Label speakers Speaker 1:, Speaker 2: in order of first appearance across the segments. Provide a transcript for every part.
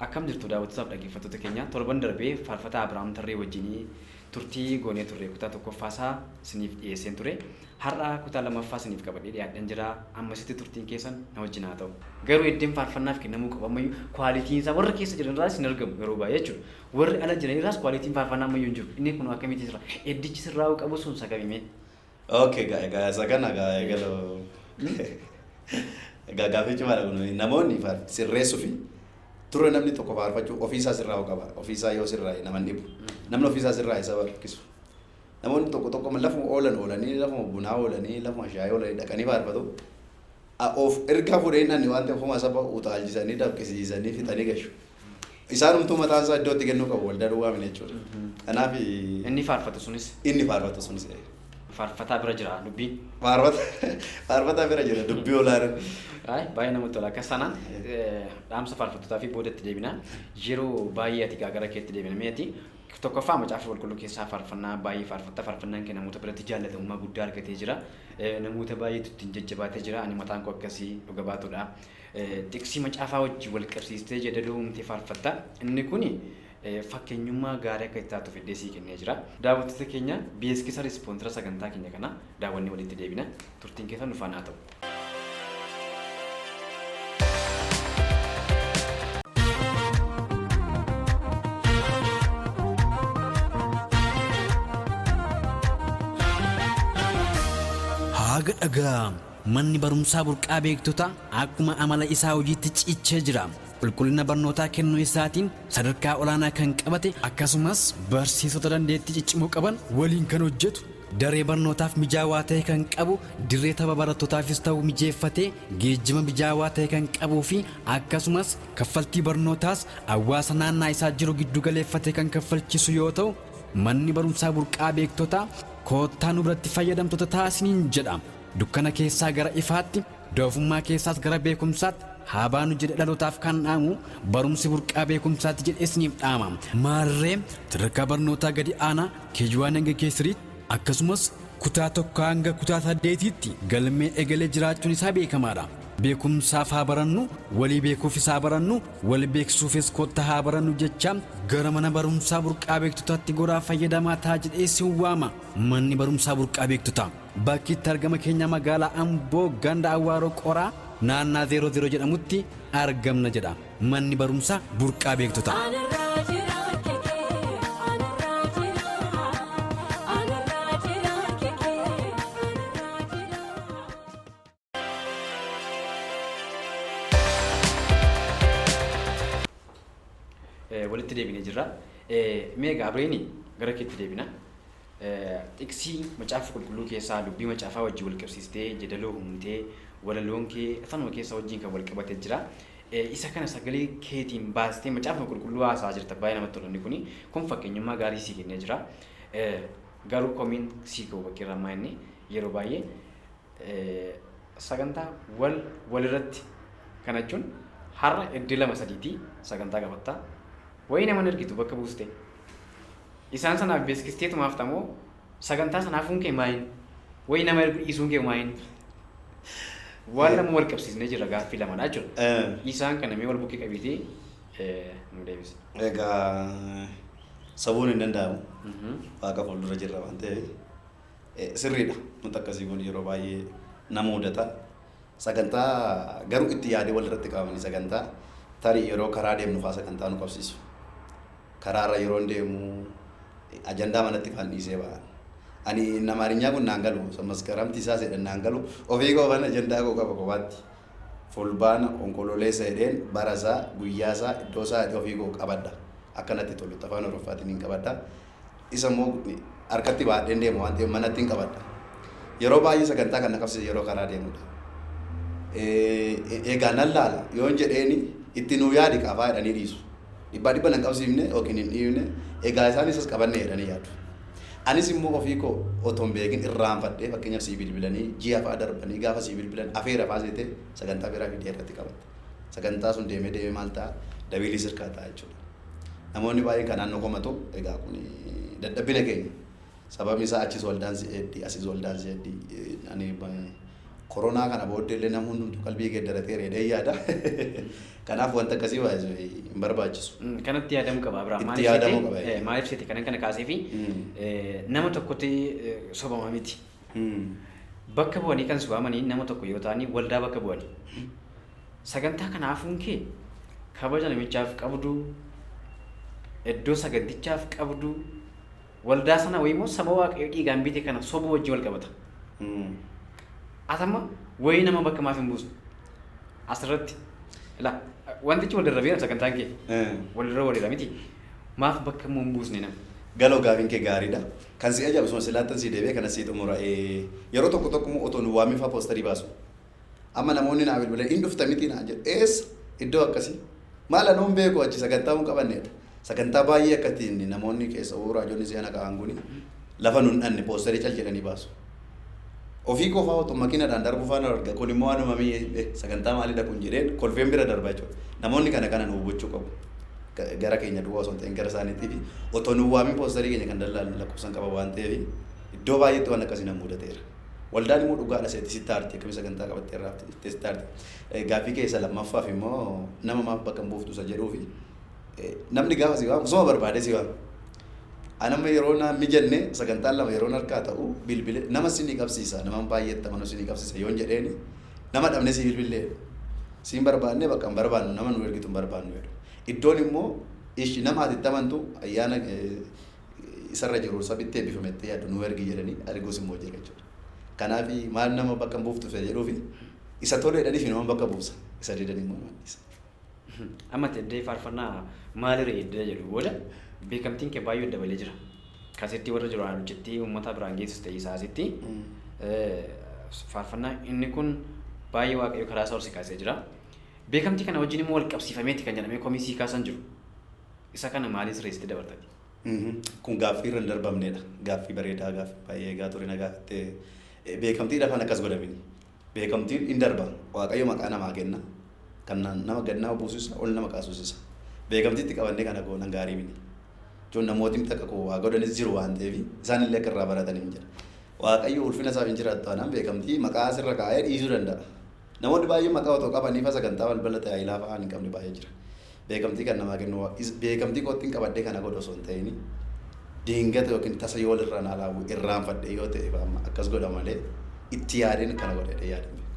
Speaker 1: Akkam jirtu daawwattootaaf dhaggeeffattoota keenya torban darbee faarfataa Abiraam Tarree wajjinii turtii goonee turre kutaa tokkoffaa isaa isiniif dhiyeesseen ture. Har'a kutaa lammaffaa isiniif qabadhee dhiyaadheen jira. Ammasitti turtiin keessan na wajjin haa ta'u. Garuu iddeen faarfannaaf kennamuu qabu ammayyuu kwaalitiin isaa warra keessa jiran irraas hin argamu yeroo baay'ee jechuudha. Warri ala jiran irraas quality'n faarfannaa ammayyuu hin jiru. Inni kunoo akkamitti jira? Eddichi sirraa'uu qabu sun sagami mee? Okay gaa
Speaker 2: egaa isa kana gaa eegaloo egaa gaaffii cimaadha kun namoonni faar- sirreessuu fi turre namni tokko faarfachuu ofiisaa sirraa'uu qaba ofiisaa yoo sirraa'e nama hin dhibu namni ofiisaa sirraa'e saba rakkisu namoonni tokko tokko amma lafuma oolan oolanii lafuma bunaa oolanii lafuma shaayii oolanii dhaqanii faarfatu A- of ergaa fuudhee inni waan ta'eef homaa saba utaalchisanii dafqisiisanii fixanii gashu Isaanumtuu mataan isaa iddoo itti kennuu qabu waldaa duwwaa miti jechuudha. Kanaaf Inni faarfatu
Speaker 1: sunis inni faarfatu sunis eh, faarfataa bira jira dubbiin. faarfata
Speaker 2: faarfataa bira jira dubbii olaanaan. Ay, baay'ee namatti
Speaker 1: tola. Akkas taanaan eh, dhaamsa faarfattootaa fi booda itti deebinaa. Yeroo baay'ee ati gaagara keetti deebina. Mee ati tokkoffaa macaafa qulqulluu keessaa faarfannaa baay'ee faarfatta. Faarfannaan kee namoota biratti jaallatamummaa guddaa argatee jira. Eh, Namoota baay'eetu ittiin jajjabaatee jira. Ani mataan koo akkasii dhuga baatudha. Xiqsii macaafaa wajjin wal qabsiistee jeedaloo uumtee faarfatta. Inni kun fakkeenyummaa gaarii akka itti taatu fiddee sii kennee jira. Daawwattoota keenya, beeksisa ispoonsera sagantaa keenya kanaa daawwannee walitti deebina. Turtiin keessan nu faana haa ta'u.
Speaker 3: Haaga dhaga'amu! Manni barumsaa burqaa beektotaa akkuma amala isaa hojiitti cichee jira. Qulqullina barnootaa kennuu isaatiin sadarkaa olaanaa kan qabate akkasumas barsiisota dandeettii ciccimoo qaban waliin kan hojjetu, daree barnootaaf mijaawaa ta'e kan qabu, dirree tapha barattootaafis ta'u mijeeffatee, geejjiba mijaawaa ta'e kan qabuu fi akkasumas kaffaltii barnootaas hawaasa naannaa isaa jiru giddu galeeffatee kan kaffalchiisu yoo ta'u, manni barumsaa burqaa beektotaa koottaa nu biratti fayyadamtoota ta'a isiniin jedha. Dukkana keessaa gara ifaatti, doofummaa keessaas gara beekumsaatti haa baanu jedhe dhalootaaf kan dhaamu barumsi burqaa beekumsaatti jedhe isiniif dhaama. Maarree sadarkaa barnootaa gadi aanaa KG1 hanga K3 akkasumas kutaa 1 hanga kutaa 8tti galmee egalee jiraachuun isaa beekamaadha. Beekumsaaf haa barannu, walii beekuufis haa barannu, wal beeksisuufis kottaa haa barannu jechaa gara mana barumsaa burqaa beektotaatti goraa fayyadamaa ta'aa jedhee isin waama. Manni barumsaa burqaa beektotaa. Bakki itti argama keenya magaalaa Amboo ganda Awwaaroo Qoraa naannaa 00 jedhamutti argamna jedha manni barumsaa burqaa beektotaa. Anarraa jiraan kekee anarraa jiraan anarraa jiraan kekee anarraa jiraan.
Speaker 1: Eh, walitti deebinee jirra. Eh, Mee egaa Abreeni gara keetti deebina. Eh, Xiqsii macaafa qulqulluu keessaa dubbii macaafaa wajjin wal qabsiistee jedaloo humtee walaloon kee afanuma keessaa wajjin kan wal qabate jira. Eh, Isa kana sagalee keetiin baastee macaafa qulqulluu haasaa jirta baay'ee namatti tola inni kuni. Kun fakkeenyummaa gaarii sii kennee jira. Eh, Garuu komiin sii ka'u bakkeerraa ammaa inni yeroo baay'ee sagantaa wal walirratti kana jechuun har'a iddoo lama sadiitii sagantaa qabattaa wayii nama ergitu bakka buuste isaan sanaaf beeksistee tumaaf tamoo sagantaa sanaafuun kee maayin wayii nama ergu dhiisuun kee maayin waan nama wal qabsiisnee jira gaaffii lamadha jechuudha. Eh, Isaan kana mee wal bukkee qabiitii eh, nu deebisa. Egaa
Speaker 2: sabuun hin danda'amu. Mhm. Waaqa fuuldura jirra waan ta'eef. Sirriidha. Wanti akkasii kun yeroo baay'ee nama mudata. Sagantaa garuu itti yaadee walirratti qabamanii sagantaa tarii yeroo karaa deemnu faa sagantaa nu qabsiisu. Karaarra yeroon deemu ajandaa manatti faan dhiisee ba'a. Ani inni Amaarinyaa kun naan galu isa maskaramti isaa seedhan naan galu ofii koo faan ajandaa koo qaba kophaatti. Fulbaana onkololeessa jedheen bara isaa guyyaa isaa iddoo isaa jedhee ofii koo qabadha. Akka natti tolutti afaan Oroffaatiin hin qabadha. Isa immoo harkatti baadheen deema waan ta'eef manattin qabadha. Yeroo baay'ee sagantaa kan na qabsiisu yeroo karaa deemudha. Egaa nan laala yoon jedheeni itti nuu yaadi qaafaa jedhanii dhiisu. Dhibbaa dhibba nan qabsiifne yookiin hin dhiifne egaa isaan isas qabanne jedhanii yaadu. Anis immoo ofii koo otoo hin beekin irraanfadhee fakkeenyaaf sii bilbilanii ji'a fa'aa darbanii gaafa sii bilbilan afeera fa'aa seetee sagantaa biraa fidee irratti qabatta. Sagantaa sun deemee deemee maal ta'a? Dabiilii sirkaa ta'a jechuudha. Namoonni baay'een kan naannoo komatu egaa kun dadhabbina keenya. Sababni isaa achis waldaan si'eeddi, asis waldaan si'eeddi. Ani koronaa kana booddee illee namni hundumtu qalbii geeddaratee reedee yaada. Kanaaf wanta akkasii baay'ee hin barbaachisu. Kanatti yaadamuu qaba
Speaker 1: Abiraam. Itti yaadamuu qaba.
Speaker 2: Maaliif seete kanan kana
Speaker 1: kaasee fi nama tokkotti sobama miti. Bakka bu'anii kan si waamanii nama tokko yoo ta'anii waldaa bakka bu'ani. Sagantaa kana hafuun kee kabaja namichaaf qabduu, iddoo sagantichaaf qabduu, waldaa sana wayimoo saba waaqayyo dhiigaan bite kana sobuu wajjin wal qabata. Atama wayii nama bakka maaf hin buusne? Asirratti ila wantichi wal darrabeera sagantaan kee walirra walirra miti maaf bakka immoo hin buusne nama? Galoo gaafiin kee
Speaker 2: gaariidha. Kan si ajaa'ibu suma silaattan sii deebi'ee kanas sii xumura ee yeroo tokko tokko immoo otoo nu waamin faa poostarii baasu amma namoonni naa bilbilan in dhufta mitii naan jedhu eessa iddoo akkasii maal anoo hin beeku achi sagantaa hin qabanne jedha sagantaa baay'ee akkatti inni namoonni keessa uu raajonni si'ana ka'an kuni lafa nun dhanne poostarii cal jedhanii baasu. Ofii qofaa utuu makiinadhaan darbufaa nan arga kun immoo anuma mii eh sagantaa maalidha kun jedheen kolfeen bira darba jechuudha. Namoonni kana kana nu hubachuu qabu. Gara keenya duwwaa osoo hin ta'in gara isaaniitii fi otoo nu waamin poostarii keenya kan dallaalan lakkoofsan qaba waan ta'eef iddoo baay'eetti waan akkasii nan mudateera. Waldaan immoo dhugaadha seetti sitti aarti akkamitti sagantaa qabattee irraa haftee sitti aarti. Gaaffii kee isa lammaffaaf immoo nama maaf bakka hin buuftu isa jedhuu fi Namni gaafa si waamu suma barbaadee si waama. An amma yeroo naan mijanne sagantaan lama yeroon harkaa ta'u bilbile nama sinii qabsiisa nama baay'eetti amanuu sinii qabsiisa yoon jedheeni nama dhabne sii bilbillee jedhu. Siin barbaadne bakka hin barbaadnu nama nu ergitu hin barbaadnu jedhu. Iddoon immoo ishi nama ati itti amantu ayyaana isarra jiru sabitti eebbifame itti yaaddu nu ergi jedhanii erguus immoo jira jechuudha. Kanaaf maal nama bakka hin buuftu jedhuufi isa toleedhaniif nama bakka buusa isa didan immoo nama dhiisa. Amma
Speaker 1: teddee faarfannaa maali ree iddoo jedhu booda beekamtiin kee baay'ee dabalee jira. Kasettii warra jiru alucittii uummataa biraan geessus ta'ee isaa asitti faarfannaa inni kun baay'ee waaqayyo karaa isaa ol si kaasee jira. Beekamtii kana wajjin immoo wal qabsiifameeti kan jedhamee komii sii kaasan jiru. Isa kana maaliin sirreessitee dabartati? Kun
Speaker 2: gaaffii irra hin darbamneedha. Gaaffii bareedaa gaaffii baay'ee eegaa ture na gaafattee beekamtiidha afaan akkas godhamini. Beekamtiin in darba. Waaqayyo maqaa namaa kenna. Kan nama gad nama buusisa, ol nama kaasisisa. Beekamtii itti qabannee kana goonan gaarii miti. Jechuun namootni miti akka koo waa godhanis jiru waan ta'eef isaan illee akka irraa baratan hin jira. Waaqayyo ulfina isaaf hin jiraattu taanaan beekamtii maqaa sirra kaa'ee dhiisuu danda'a. Namoonni baay'een maqaa otoo qabanii fa sagantaa balbala tajaajilaa fa'aa hin qabne baay'ee jira. Beekamtii kan namaa kennu is beekamtii koottin qabadhee kana godhu osoo hin ta'ini diingata yookiin tasa yoo walirraa naa laawwu irraanfadhee yoo ta'e fa amma akkas godha malee itti yaadeen kana godha jedhee yaadeen beeku.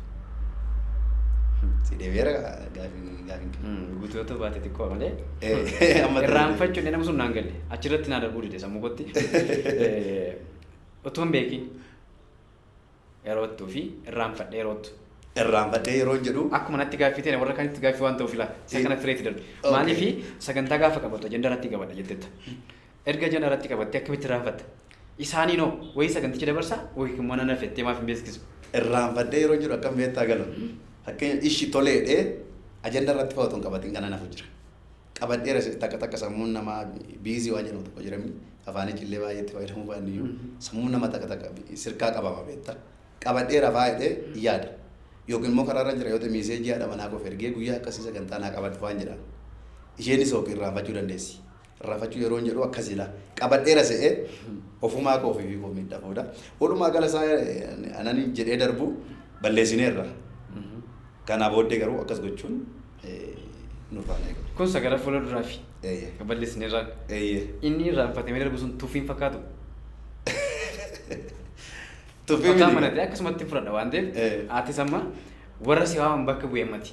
Speaker 2: Si deebi'eera gaafiin gaafiin kee. Hmm, Guutuu yoo ta'u
Speaker 1: baate xiqqoo malee Eh, amma irraanfachuun nama sun naan galle achirratti naa darbuu dide sammuu kootti Eh, utuu hin beekin Eroottuu fi irraanfadhee roottu. Irraanfadhee yeroon
Speaker 2: jedhu. Akkuma natti gaaffii ta'e warra
Speaker 1: kaanitti gaaffii waan ta'uuf ilaa isa kana fireeti darbe. Okay. Maaliifi sagantaa gaafa qabatu ajenda irratti qabadha jettetta. Erga ajenda irratti qabattee akkamitti irraanfatta? Isaaniin hoo wayii saganticha dabarsaa wayii immoo nan hafettee maaf hin beeksisu? Irraanfadhee yeroon
Speaker 2: jedhu akkam beektaa galu. Fakkeenya ishi toleedhee ajenda irratti fa'aa otoo hin qabatiin kana nafu jira. qabadheera sirri takka takka sammuun namaa biizii waan jedhamu tokko jiramni afaanichi illee baay'ee itti fayyadamuu baanne iyyuu sammuun nama takka takka sirkaa qabama beekta qabadheera faa jedhee yaada yookiin immoo karaarra jira yoo ta'e miiseejii haadha manaa koof ergee guyyaa akkasii sagantaa naa qabadhu faan jedhaan isheenis ookii irraanfachuu dandeessi irraanfachuu yeroo hin jedhu akkas jedha qabadheera se'ee ofumaa koo fi koo miidhaa booda walumaa gala isaa anani jedhee darbu balleessineerra kanaa booddee garuu akkas gochuun nu faana eegaa. Kun sagara fuula duraafi.
Speaker 1: Eeyyee. Kan balleessine irraan. Eeyyee. Inni irraanfatamee darbu sun tuffii hin fakkaatu. Tuffii Fataa miti. manatti akkasumatti fudhadha waan ta'eef Eh. atis amma warra si waaman bakka bu'e ammati.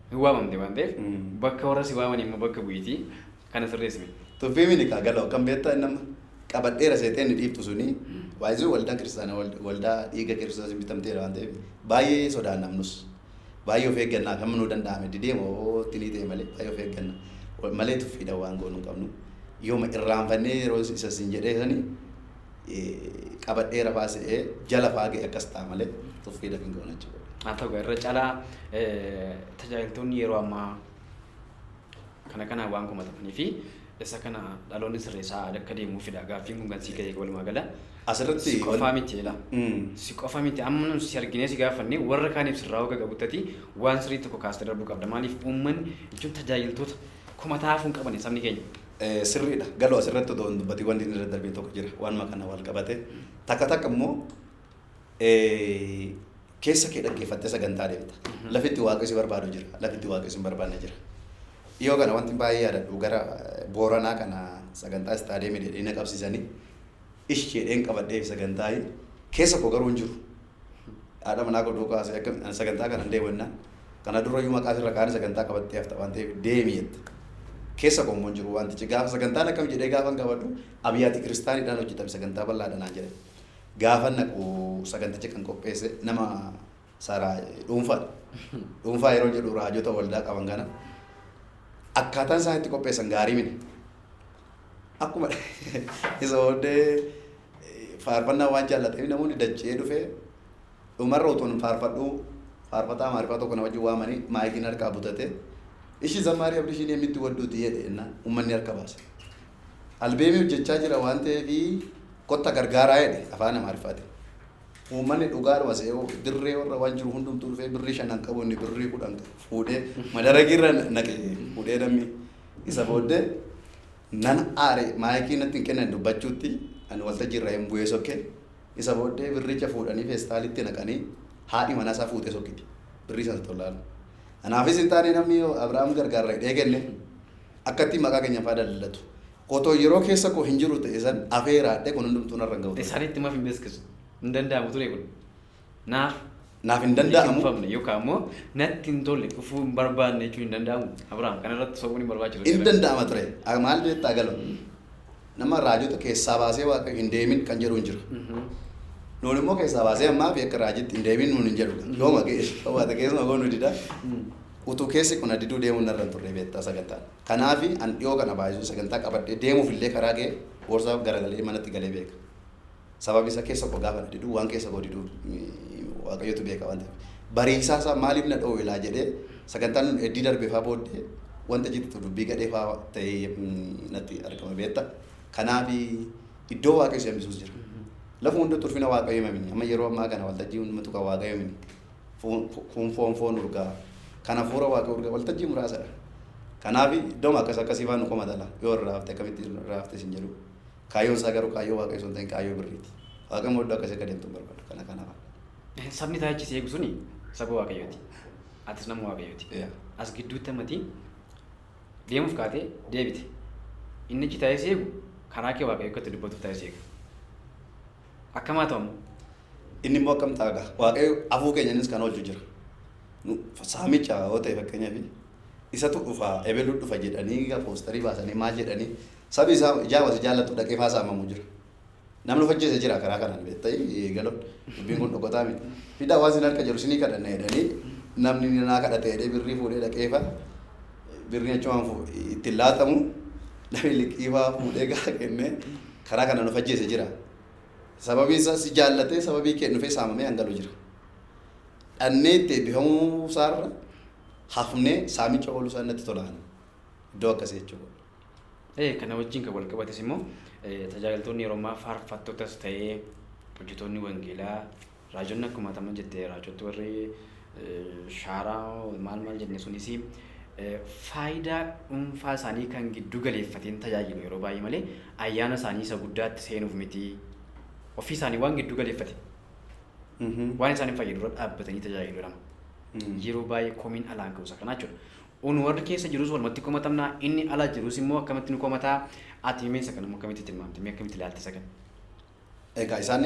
Speaker 1: Hin waamamte waan ta'eef Mm. bakka warra si waaman immoo bakka bu'iti kana sirreessine. Tuffii miti kaa galoo
Speaker 2: kan beektaa inni amma qabadheera seexee inni dhiiftu suni waayizuu waldaa kiristaanaa wal- waldaa dhiiga kiristoosiin bitamteera waan ta'eef baay'ee sodaannamnus. Baay'ee of eegganna akkamma nuu danda'ame didee moo tinii ta'e malee baay'ee of eegganna. Malee tuffiidha waan goonu hin qabnu. Yooma irraanfannee yeroo isa sin jedhee sani qabadhee rafaa se'ee jala faa ga'e akkas ta'a malee tuffiidha hin goona jechuudha. Haa ta'u irra calaa
Speaker 1: tajaajiltoonni yeroo ammaa Kana kanaan waan komatamanii fi isa kana dhaloonni sirreessaa akka deemuufidha. Gaaffiin kun kan sii ka'e walumaa gala. Asirratti Si qofaa
Speaker 2: wan- miti ila.
Speaker 1: Mm. Si qofa miti amma nu si arginee si gaafanne warra kaaniif sirraa hoga qabuttati waan sirrii tokko kaastee darbuu qabda. Maaliif uummanni jechuun tajaajiltoota komataa hafuu hin qabani sabni keenya. Eh, sirriidha.
Speaker 2: Galoo asirratti otoo hin dubbatiin wanti inni irra darbee tokko jira. Waanuma kana wal qabate. Takka takka immoo eh, Keessa kee dhaggeeffattee sagantaa deemta. Lafi itti Waaqayyo si barbaadu jira. Lafi itti Waaqayyo si hin barbaanne jira. Dhiyoo kana wanti baay'ee yaadadhu gara Booranaa kana sagantaa istaadiyeemii dheedhee na qabsiisanii ish jedheen qabadheef sagantaa keessa koo garuu hin jiru. Haadha manaa koo duukaa haasa'e akka ani sagantaa kana hin deemu jennaan kana dura iyyuu maqaa irra kaanii sagantaa qabattee hafta waan ta'eef deemi jette. Keessa koo immoo hin jiru wantichi gaafa sagantaan akkam jedhee gaafa hin qabadhu abiyyaati kiristaaniidhaan hojjetame sagantaa bal'aadha naan jedhan. Gaafan dhaqu saganticha kan qopheesse nama saaraa dhuunfaadha. Dhuunfaa yeroo jedhu raajota waldaa qaban kana akkaataan isaan itti qopheessan gaarii miti. Akkuma isa booddee faarfannaa waan jaallateef namoonni dachee dhufee dhumarra utuu hin faarfadhu faarfataa maarifaa tokko na wajjin waamanii maayikiin harkaa butatee ishii zammaarii abdishiin yemmitti wadduuti jedhe jennaan uummanni harka baase. Albeemii hojjechaa jira waan ta'eef kotta gargaaraa jedhe afaan Amaariffaatiin. Uummanni dhugaadhuma se'oo dirree warra waan jiru hundumtuu dhufee birrii shanan qabu inni birrii kudhan qabu fuudhee madaragiirra naqe fuudhee namni isa booddee nan aare maayikii natti hin kennan dubbachuutti ani waltajjii irraa hin bu'ee sokke isa booddee birricha fuudhanii feestaalitti naqanii haadhi manaa isaa fuutee sokkiti birrii sana tollaalu. Anaafis hin taane namni Abiraam gargaarra hidhee kenne. Akkattiin maqaa keenya faa daldalatu. Otoo yeroo keessa koo hin jiru ta'e san afeeraadhe kun hundumtuu narra hin ga'u ture. Isaanitti maf hin beeskisu?
Speaker 1: Hin danda'amu ture kun. Naaf
Speaker 2: Naaf hin hin danda'amu. liqimfamne yookaan immoo
Speaker 1: natti hin tolle dhufuu hin barbaanne jechuun hin danda'amu. Abrahaam kana irratti sobuun hin barbaachisu Hin seera. danda'ama ture.
Speaker 2: Ah, Maal beektaa galo? Nama raajota keessaa baasee waaqayyo hin deemin kan jedhu hin jira. Mhm. Nuun immoo keessaa baasee ammaa fi akka raajitti hin deemin nuun hin jedhu. Yooma ga'e qabaata keessuma goonu dida. Mm. Utuu keessi ko na diduu deemuun narra hin turree beektaa sagantaan. Kanaafi an dhiyoo kana baay'isuun sagantaa qabadhee deemuuf illee karaa ga'e boorsaa garagalee manatti galee beeka. Sababi isa keessa ko gaafa na diduu waan keessa koo diduu waaqayyotu beeka waan ta'eef. Bariisaa isaa maaliif na dhoowwe laa jedhee sagantaan nun eddii darbe faa booddee wanta jiddu dubbii gadhee faa ta'ee natti argama beekta. Kanaafi iddoo waaqayyo si hambisuus jira. Lafuma hundatti ulfina waaqayyo hima mini amma yeroo ammaa kana waltajjii hundumatu kan waaqayyo mini. Kun foon foon urgaa. Kan hafuura Waaqayyoo urgaa. Waltajjii muraasa dha. Kanaaf iddooma akkas akkasii fa'aa nu komata laa. Yoo irraa hafte akkamitti irraa hafte isin jedhu. Kaayyoon isaa garuu kaayyoo Waaqayyoo osoo hin ta'in kaayyoo birriiti. Waaqayyo immoo iddoo akkasii akka deemtu hin barbaadu. Kana kana fa'a. Sabni isaa
Speaker 1: achi si eegu suni saba Waaqayyooti. Atis nama Waaqayyooti. Yaa. As gidduutti ammati deemuuf kaatee deebite. Inni achi taa'ee si eegu karaa kee Waaqayyo akka itti dubbatuuf taa'ee si eega. Akkam haa ta'u? Inni immoo
Speaker 2: akkam ta'a gaa? Waaqayyo afuu keenyanis kan oolchu jira. Nu saamicha yoo ta'e fakkeenyaaf isatu dhufa ebelu dhufa jedhanii gaa poostarii baasanii maal jedhanii sabi isaa ijaa wasi jaallatu dhaqee faa saamamu jira. Namni of ajjeese jira karaa kanaan beekta'ii galoon dubbiin kun dhokotaa miti. Fidaa waan sin harka jiru sinii kadhanna jedhanii namni naa kadhate jedhee birrii fuudhee dhaqee faa birrii achi waan fu- itti hin laatamu namni liqii faa fuudhee gaara kennee karaa kanaan of ajjeese jira. Sababiin isaa si jaallatee sababii kee dhufee saamamee hangalu jira. Dhannee itti eebbifamuu isaarra hafnee saamicha ooluu isaa natti tola ani. Iddoo akkasii jechuudha. Ee, kana
Speaker 1: wajjin kan wal qabates immoo eh, tajaajiltoonni yeroo ammaa faarfattotas ta'ee hojjetoonni wangeelaa Raajonni akkuma ati amma jette raajottu warri shaaraa maal maal jenne sunis faayidaa dhuunfaa isaanii kan gidduu galeeffateen tajaajilu yeroo baay'ee malee ayyaana isaanii isa guddaatti seenuuf miti ofii isaanii waan gidduu galeeffate waan isaan hin fayyadu irra dhaabbatanii tajaajilu jedhama. Yeroo baay'ee komiin alaan ka'uusa kanaa jechuudha. Un warri keessa jirus walumatti komatamna inni ala jirus immoo akkamitti nu komataa ati himee isa kana immoo akkamitti tilmaamte mee akkamitti ilaalta isa kana. Egaa
Speaker 2: isaan,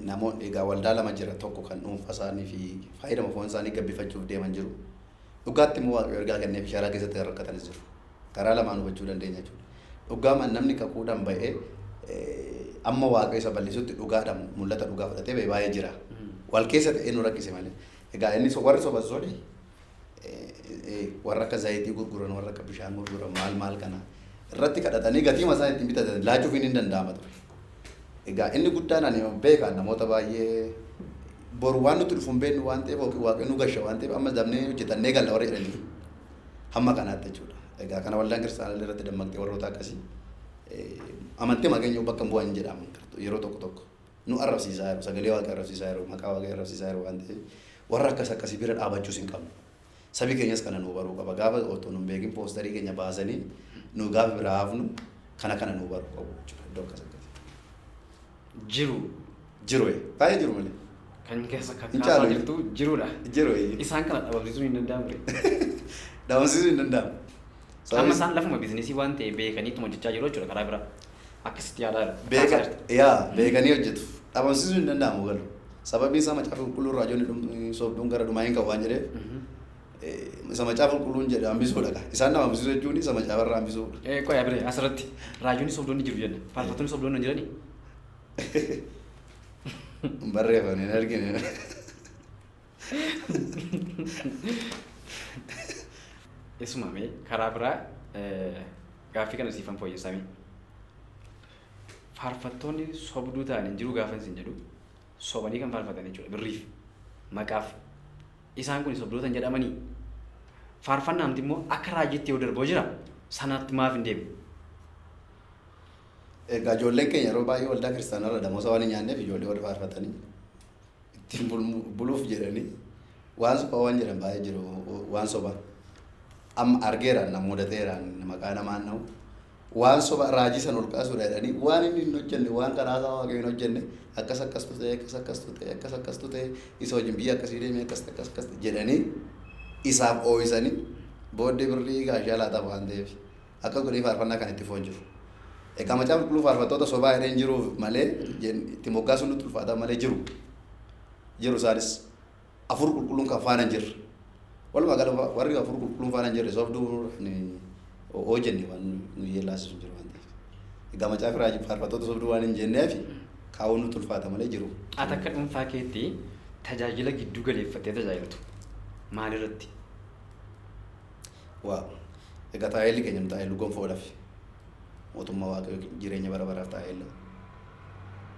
Speaker 2: namoonni, egaa waldaa lama jira, tokko kan dhuunfaa isaanii fi faayidama foon isaanii gabbifachuuf deeman jiru, dhugaatti immoo Waaqayyo ergaa kenneefi sharaa keessatti kan rakkatanis jiru. Karaa lamaan hubachuu dandeenya jechuudha. Dhugaamaan namni kakuudhaan ba'ee amma Waaqayyo isa bal'isutti dhugaadhaan mul'ata dhugaa fudhatee ba'e baay'ee jira. Wal keessa ta'ee nu rakkise malee. Egaa inni warri soban suni warra akka zayitii gurguran warra akka bishaan gurguran maal maal kana irratti kadhatanii gatii masaa ittiin bitatan laachuufiin hin danda'ama ture. Egaa inni guddaan ani beeka namoota baay'ee boru waan nuti dhufu hin beeknu waan ta'eef yookiin waaqayyo nu gasha waan ta'eef amma dabnee hojjetannee galla warra jedhanii hamma kanaatti jechuudha. Egaa kana waldaan kiristaanaa irratti dammaqxee warroota akkasii amantii maqeenyuu bakka hin bu'an jedhaman yeroo tokko tokko. nu arrabsiisaa jiru. Sagalee Waaqii arrabsiisaa jiru. Maqaa Waaqii arrabsiisaa jiru waan ta'eef warra akkas akkasii bira dhaabachuus hin qabnu. Sabi keenyas kana nuu baruu qaba. Gaafa otoo nun beekin poostarii keenya baasanii nu gaafa biraa hafnu kana kana nuu baruu qabu jechuudha. Iddoo akkas akkasii. Jiru. Jiru ee. Baay'ee jiru malee. Kan
Speaker 1: keessa Hin kakkaasaa caalu. jirtu jirudha. Jiru ee. Isaan
Speaker 2: kana dhabamsiisuun
Speaker 1: hin danda'amu ree.
Speaker 2: Dhabamsiisuu hin danda'amu. Amma Sababni- isaan
Speaker 1: lafuma biizinesii waan ta'e beekaniituma hojjechaa jiru jechuudha karaa biraa. Akkasitti yaadaa jiru. Beeka, Kaasaa jirta. yaa,
Speaker 2: beekanii hojjetu. Dhabamsiisuun hin danda'amu galu. Sababiin isaa macaafa qulqulluun raajoonni dhum- sobduun gara dhumaa hin ka'u waan jedheef eh, isa macaafa qulqulluun jedhe hambisuudha ka. Isaan nama hambisuu jechuun isa macaafa irraa hambisuudha. Eh, Qoya bire asirratti
Speaker 1: raajoonni sobdoonni jiru jenna. Faarfattoonni sobdoonni hin jiranii?
Speaker 2: Hin barreeffamne hin argine.
Speaker 1: Isuma mee karaa biraa eh, gaaffii kana siifan fooyyessaa mee. Faarfattoonni sobduu ta'an hin jiru gaafa isin jedhu sobanii kan faarfatan jechuudha birriif maqaaf isaan kun sobdoota hin jedhamanii faarfannaa amti immoo akka raajiitti yoo darboo jira sanaatti maaf hin deemu.
Speaker 2: Egaa ijoolleen keenya yeroo baay'ee waldaa kiristaanaa irra damoosa waan hin nyaanneef ijoollee warri faarfatanii ittiin buluuf jedhanii waan sobaa waan jedhan baay'ee jiru waan sobaa amma argeeraan na mudateeraan maqaa namaan na'u waan soba raajii san ol kaasuudha jedhanii waan inni hin hojjenne waan karaa isaa waaqayyo hin hojjenne akkas akkastu ta'e akkas akkastu ta'e akkas akkastu ta'e isa wajjin biyya akkasii deemee akkas akkas akkas jedhanii isaaf oo'isanii booddee birrii gaashaa laataaf waan ta'eef Akkas godhee faarfannaa kan itti fufan jiru. Egaa macaafa qulqulluu faarfattoota sobaa jedhee hin jiru malee itti moggaasuun nutti ulfaataa malee jiru. Jiru isaanis afur qulqulluun kan faana hin jirre. Walumaa gala warri afur qulqulluun faana hin jirre sobduu hojjenne waan nu yeellaasisu jiru waan ta'eef. Egaa macaafi raajii faarfattoota sobduu waan hin jenneef kaa'uun nutti ulfaata malee jiru. Ati akka dhuunfaa
Speaker 1: keetti tajaajila gidduu galeeffattee tajaajiltu maalirratti?
Speaker 2: Waaw egaa taaeelli keenya nu taaeellu gonfoo olafi mootummaa waaqayyo jireenya bara baraaf taaeella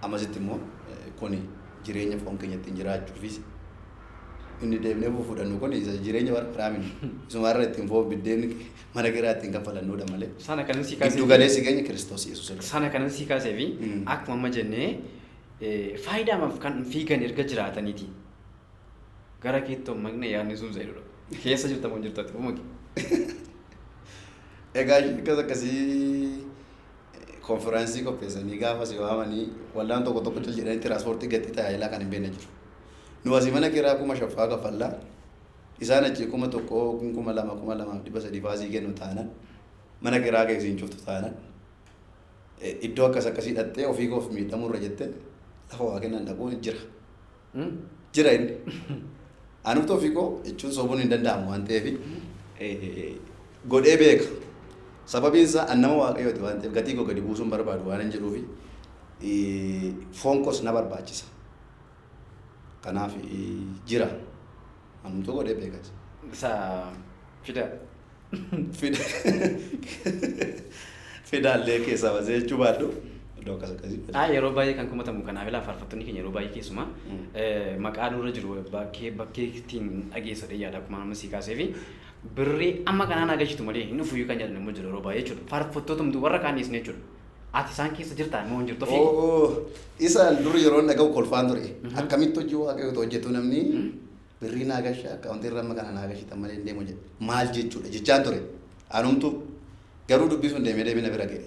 Speaker 2: amasitti immoo kuni jireenya foon keenya ittiin jiraachuufis inni deemnee fuudhannu kun isa jireenya bara baraa miti isumaarra ittiin foon biddeen mana kiraa ittiin kaffalannuudha malee sana kanan si kaasee giddu
Speaker 1: galeessi keenya kiristoos
Speaker 2: yesuus irra sana kanan si kaasee fi
Speaker 1: Mm. akkuma amma jennee eh, faayidaamaaf kan fiigan erga jiraataniiti Gara keetti hommaqne yaadni sun Zaidudha. Keessa jirta moo hin jirtu ati hommaqi.
Speaker 2: Egaa isheen akkas akkasii konfiraansii qopheessanii gaafa si waamanii waldaan tokko tokko jal jedhanii tiraanspoortii gatii tajaajilaa kan hin beekne jiru. Nu asii mana kiraa kuma shaffaa kaffallaa isaan achii kuma tokko kun kuma lama kuma lamaaf dhibba sadii faasii kennu taanan mana kiraa kee isiin cuftu taanan iddoo akkas akkasii dhattee ofii koof miidhamuu irra jettee lafa waa kennan dhaquun jira. jira inni. Anumti ofii koo jechuun sobuun hin danda'amu waan ta'eef godhee beeka. Sababiin isaa an nama waaqayyooti waan ta'eef gatii koo gadi buusuun barbaadu waan hin jedhuufi foon koos na barbaachisa. Kanaaf jira. Anumtuu godhee beeka. Isa
Speaker 1: fida.
Speaker 2: fidaallee keessaa basee jechuu baadhu iddoo akkas akkasii. Haa yeroo baay'ee kan komatamu
Speaker 1: kanaaf ilaa faarfattoonni keenya yeroo baay'ee keessumaa maqaa nurra jiru bakkee bakkee ittiin dhageessa ta'e yaada akkuma amma sii kaasee fi birrii amma kanaan agarsiistu malee hin dhufu kan jedhan immoo jiru yeroo baay'ee jechuudha. Faarfattoota hunduu warra kaan dhiisne jechuudha. Ati isaan keessa jirtaa immoo hin jirtu ofii. Oo isa dur yeroo
Speaker 2: dhaga'u kolfaan ture akkamitti hojii waaqayyoo hojjetu namni Birrii naa galchaa account irra amma kana naa galchitan malee hin deemu jedhe. Maal jechuudha jechaan ture. Anumtu garuu dubbii sun deemee deemee na bira ga'e.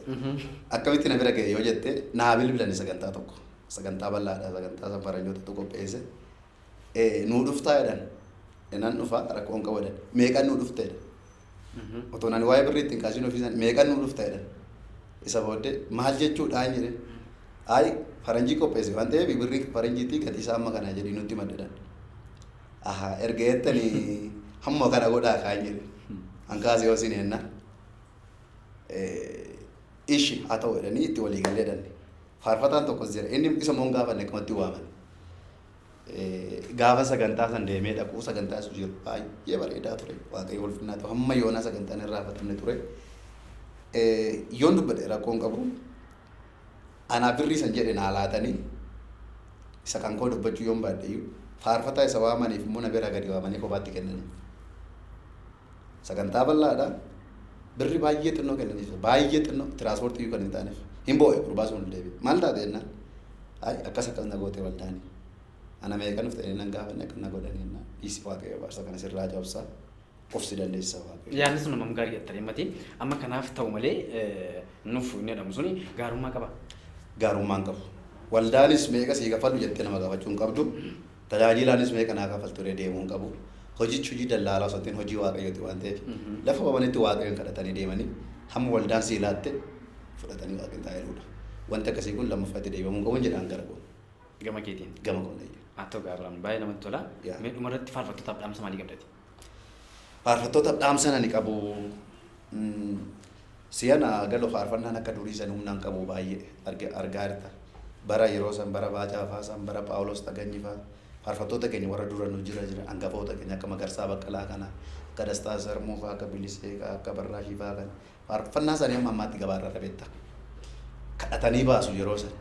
Speaker 2: Akkamitti na bira ga'e yoo jette naa bilbilani sagantaa tokko. Sagantaa bal'aadha sagantaa san faranjootatu qopheesse. Eh, Nuu dhuftaa jedhan. Nan dhufa rakkoon qabu jedhan. Meeqan nuu dhufte jedhan. Otoon ani waa'ee birrii ittiin kaasin ofiisan meeqan nuu dhufta jedhan. Isa booddee maal jechuudhaan jedheen. Ayi faranjii qopheesse waan ta'eef birrii faranjiitii gatii isaa amma kana jedhii nutti madda jedhan. Aha erga jettanii hamma kana godhaa kaan jedhe. An kaasee yoo isin hennaa. Ishi haa ta'u jedhanii itti walii galee jedhan. Faarfataan tokkos jira inni isa immoo hin gaafanne akkumatti waaman. Gaafa sagantaa san deemee dhaquu sagantaa sujiir baay'ee bareedaa ture waaqayyo ulfinnaa ta'u hamma yoonaa sagantaan hin raafatamne ture. Yoon dubbadhe rakkoon qabu anaa birrii san jedhe naa laatanii isa kan koo dubbachuu yoon baadheyyuu faarfataa isa waamaniif immoo na biraa gadi waamanii kophaatti kennanii. Sagantaa bal'aadha. Birri baay'ee xinnoo kennaniif baay'ee xinnoo tiraanspoortii iyyuu kan hin taaneef hin boo'e gurbaa sun ol deebi'e. Maal taate jennaan? Ay akkas akkas na goote waldaani. Ana meeqan dhufte inni nan gaafanne akka na godhan jennaan. Dhiisi waaqayyo abaarsa kana sirraa cabsaa of si dandeessisa waaqayyo. Yaadni sun hammam gaarii dha tarii
Speaker 1: mati amma kanaaf ta'u malee nuuf hin jedhamu suni gaarummaa qaba.
Speaker 2: Gaarummaan qabu. Waldaanis meeqa sii kaffallu jettee nama gaafachuu hin qabdu. Tajaajiilaanis meeqa naa kafaltu ree deemuu hin qabu. Hojichi hojii dallaalaa osoo hin ta'in hojii Waaqayyooti waan ta'eef lafa qabanitti Waaqayyoon kadhatanii deemanii hamma waldaan sii laatte fudhatanii Waaqin taa'eeruudha. Wanti akkasii kun lammaffaa itti deebamuu hin qabuun jedhaan gara koon. Gama keetiin.
Speaker 1: Gama koon eeyyee. Haa
Speaker 2: ta'u gaa Abiraam baay'ee
Speaker 1: namatti tola. Mee dhumarratti faarfattootaaf dhaamsa maalii qabdati? Faarfattoota
Speaker 2: dhaamsan ani qabu siyana galo faarfannaan akka durii san humnaan qabu baay'ee arge- argaa jirta. Bara yeroo san bara baacaa faa san bara Phaawulos Taganyi faa faarfattoota keenya warra dura nu jira jira angafoota keenya akka Magarsaa Baqqalaa kana akka Dastaa Sarmuu faa akka Bilisee faa akka Barraashii faa kana Faarfannaa isaanii hamma ammaatti gabaa irra irra beektaa? Kadhatanii baasu yeroo san.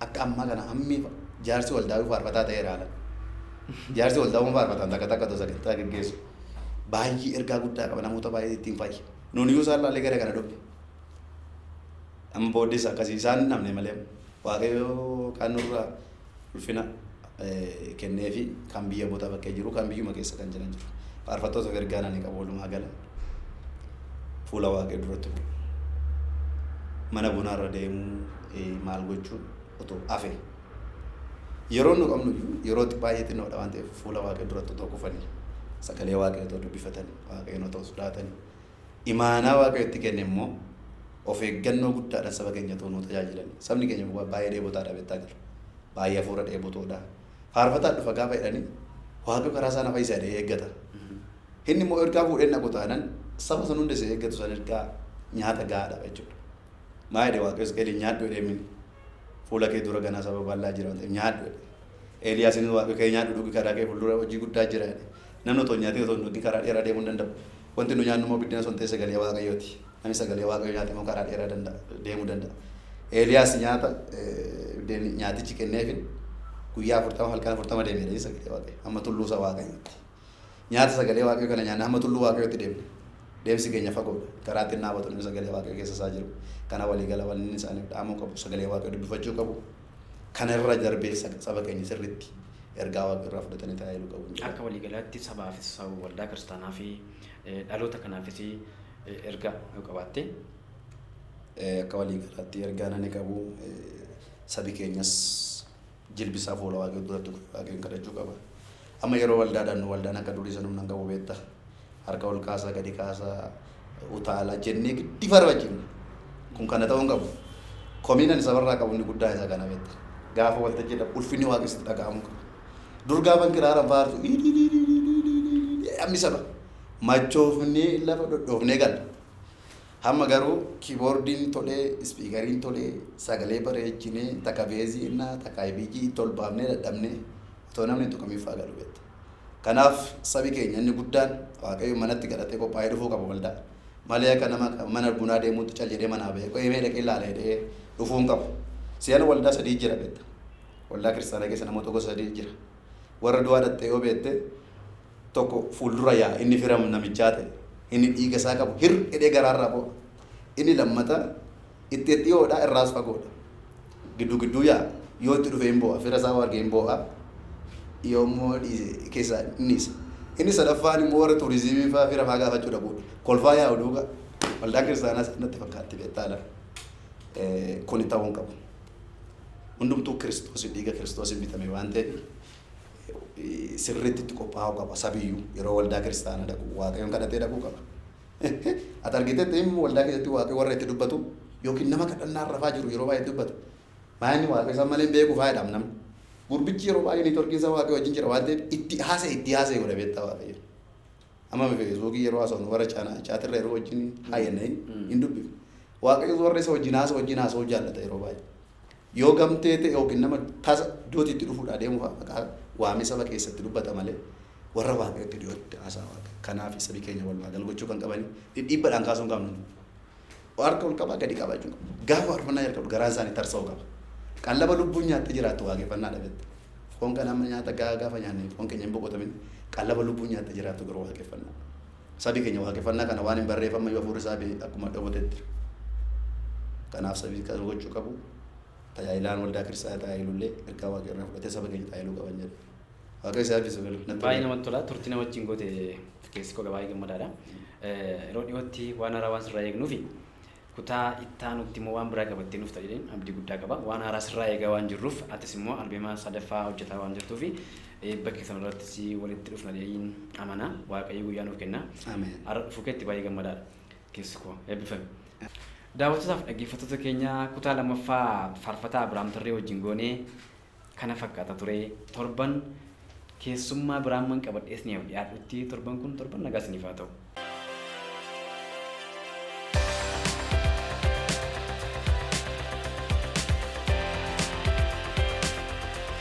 Speaker 2: Akka ammaa kana hammi jaarsi waldaawii faarfataa ta'ee ilaala. Jaarsi waldaawwan faarfataan takka takka otoo sagantaa geggeessu baay'ee ergaa guddaa qaba namoota baay'ee ittiin fayya. Nuun iyyuu isaan laallee gara kana dhufne. Amma booddees akkasii isaan hin dhabne malee waaqayyo kan nurraa ulfina kenneefi kan biyya bota baqqee jiru kan biyyuma keessa kan jiran jiru faarfattootaaf ergaan ani qabu walumaa gala fuula waaqayyo duratti bu'u mana bunaarra deemuu eh, maal gochuun otoo hafe yeroo nu qabnu iyyuu yeroo baay'ee xinnoodha waan ta'eef fuula waaqayyo duratti otoo kufanii sagalee waaqayyo otoo dubbifatanii waaqayyoon otoo sodaatanii Imaanaa Waaqayyo itti kenne immoo of eeggannoo guddaadhaan saba keenya utuu nuu tajaajilanii. Sabni keenya kun baay'ee dheebotaadha beektaa jira. Baay'ee hafuura dheebotoodha. Faarfataan dhufa gaafa jedhanii Waaqayyo karaa isaa na fayyisa jedhee eeggata. Inni immoo ergaa fuudhee dhaqu taanan saba san hundessa eeggatu san ergaa nyaata gahaa dhaba jechuudha. Maa jedhe Waaqayyo Isqeeliin nyaadhu jedhee mini. Fuula kee dura ganaa saba bal'aa jira waan ta'eef nyaadhu jedhe. Eeliyaasiin Waaqayyo kee nyaadhu dhugi karaa kee fuuldura hojii guddaa jira jedhe. Namni otoo hin nyaatiin otoo hin dhugin karaa dheeraa deemuu hin danda'u. Wanti nu nyaannu immoo biddena osoo hin ta'in sagalee Waaqayyoo ti. Namni sagalee Waaqayyoo nyaate immoo karaa dheeraa danda'a, deemuu danda'a. Eeliyaas nyaata, biddeen nyaatichi kenneefin guyyaa 40 halkan 40 deemeera inni sagalee Waaqayyoo hamma tulluu isa Waaqayyootti. Nyaata sagalee Waaqayyoo kana nyaanne hamma tulluu Waaqayyootti deemne. Deemsi keenya fagoo dha. Karaa ittiin dhaabatu namni sagalee Waaqayyoo keessa isaa jiru kana walii gala wanni inni isaaniif dhaamuu qabu sagalee Waaqayyoo dubbifachuu qabu. Kana irra darbee saba keenya sirriitti ergaa Waaqa irraa fudhatanii tajaajilu qabu jedha. Akka walii galaatti
Speaker 1: sabaafis, saba waldaa kiristaanaa fi dhaloota kanaafis ergaa yoo qabaatte?
Speaker 2: Akka walii galaatti ergaan ani qabu sabi keenyas jilbisaa fuula Waaqayyoo duratti Waaqayyoon kadhachuu qaba. Amma yeroo waldaadhaan nu waldaan akka durii san humna hin qabu beetta. Harka ol kaasaa, gadi kaasaa, utaala jennee giddi farfachifna. Kun kana ta'uu hin qabu. Komiin ani sabarraa qabu inni guddaa isa kana beetta. Gaafa waltajjii dhaqu ulfinni waaqessi dhaga'amuu qaba. Dur gaafan kiraaraan faarsu hammi saba machoofnee lafa dhodhoofnee galla. Hamma garuu kiiboordiin tolee, ispiikariin tolee, sagalee bareechinee, takka beezii ennaa, takka ibijii itti ol baafnee dadhabnee otoo namni hin tuqamin faa galu beekta. Kanaaf sabi keenya inni guddaan Waaqayyoon manatti kadhatee qophaa'ee dhufuu qaba waldaa. Malee akka nama mana bunaa deemuutti cal jedhee manaa ba'ee qo'ee mee dhaqee laala jedhee dhufuu hin qabu. Si'ana waldaa sadii jira beekta. Waldaa kiristaanaa keessa namoota gosa sadii jira. Warra du'aa dhaqxee yoo beekte tokko fuuldura yaa'a, inni firam namichaa ta'e, inni dhiiga isaa qabu hir jedhee garaa irraa boo'a, inni lammata itti ed dhiyoo dha, irraas fagoo dha, gidduu gidduu yaa'a, yoo itti dhufe in boo'a, fira isaa yoo arge in boo'a, yoo immoo dhiise keessaa in dhiisa. Inni sadaffaan immoo warra tuuriziimii faa fira faa gaafachuu dhaquu dha. Kolfaa yaa'u duuka. Waldaan kiristaanaas natti fakkaatti beektaa laa. Eh, kuni ta'uu hin qabu. Hundumtuu Kiristoos dhiiga Kiristoosiin bitame waan ta'eef sirriitti itti qophaa'uu qaba sabiyyuu yeroo waldaa kiristaanaa dhaqu waaqayyoon kadhatee dhaquu qaba. Ati argiteetta inni waldaa keessatti waaqayyo warra itti dubbatu yookiin nama kadhannaan rafaa jiru yeroo baay'ee dubbatu. Maa inni waaqayyo isaan malee hin beeku faayidhaam namni. Gurbichi yeroo baay'ee neetworkiin isaa waaqayyo wajjin jira waan ta'eef itti haasa'e itti haasa'e godha beektaa waaqayyo. Amma feesbuukii yeroo haasa'u warra chaatirra yeroo wajjin haayannee hin dubbifne. Waaqayyo warra isa wajjin haasa'u wajjin haasa'uu jaallata yeroo baay'ee. Yoo gamtee ta'e ykn nama tasa iddooti itti dhufuudhaa deemu fa'a maqaa waamee saba keessatti dubbata malee warra Waaqayyotti dhiyootti haasaa Waaqayyo. Kanaafi sabi keenya walumaa gal gochuu kan qabanii dhidhiibbadhaan kaasuu hin qabnu. Harka ol qabaa gadi qabaa jechuun qabu. Gaafa faarfannaa jalqabdu garaan isaanii tarsa'uu qaba. Qallaba lubbuun nyaattee jiraattu waaqeffannaadha beekta. Foon kana amma nyaata gahaa gaafa nyaanne foon keenya hin boqotamin qallaba lubbuun nyaattee jiraattu garuu waaqeffannaa. Sabi keenya waaqeffannaa kana waan hin barreef ammayyuu hafuurri isaa be akkuma dhobotetti jira. Kanaaf sabi kana gochuu qabu tajaajilaan waldaa kiristaanaa tajaajilullee ergaa waaqa irraa fudhatee saba keenya tajaajiluu qaban jedha. Waaqayyo isaa eebbisu galu. Natti Baay'ee tola. namatti tola. Turtii na
Speaker 1: wajjin goote keessi koo baay'ee gammadaadha. Eh, Yeroo dhiyootti waan haaraa waan sirraa eegnuufi Kutaa ittaanutti immoo waan biraa qabattee nufta jedheen abdii guddaa qaba. Waan haaraa sirraa eegaa waan jirruuf atis immoo albeema sadaffaa hojjetaa waan jirtuufi eebba kee sanarratti si walitti dhufna jedheen amana. Waaqayyo guyyaa nuuf kenna. Ameen. Har'a dhufuu keetti
Speaker 2: baay'ee
Speaker 1: gammadaadha. Keessi koo eebbifami. Daawwattootaaf dhaggeeffattoota keenya kutaa lammaffaa faarfataa Abiraam Tarree wajjin goone kana fakkaata ture. Torban keessummaa biraamman qabadhee isiniif dhiyaadhutti torban kun torban nagaa isiniif haa ta'u.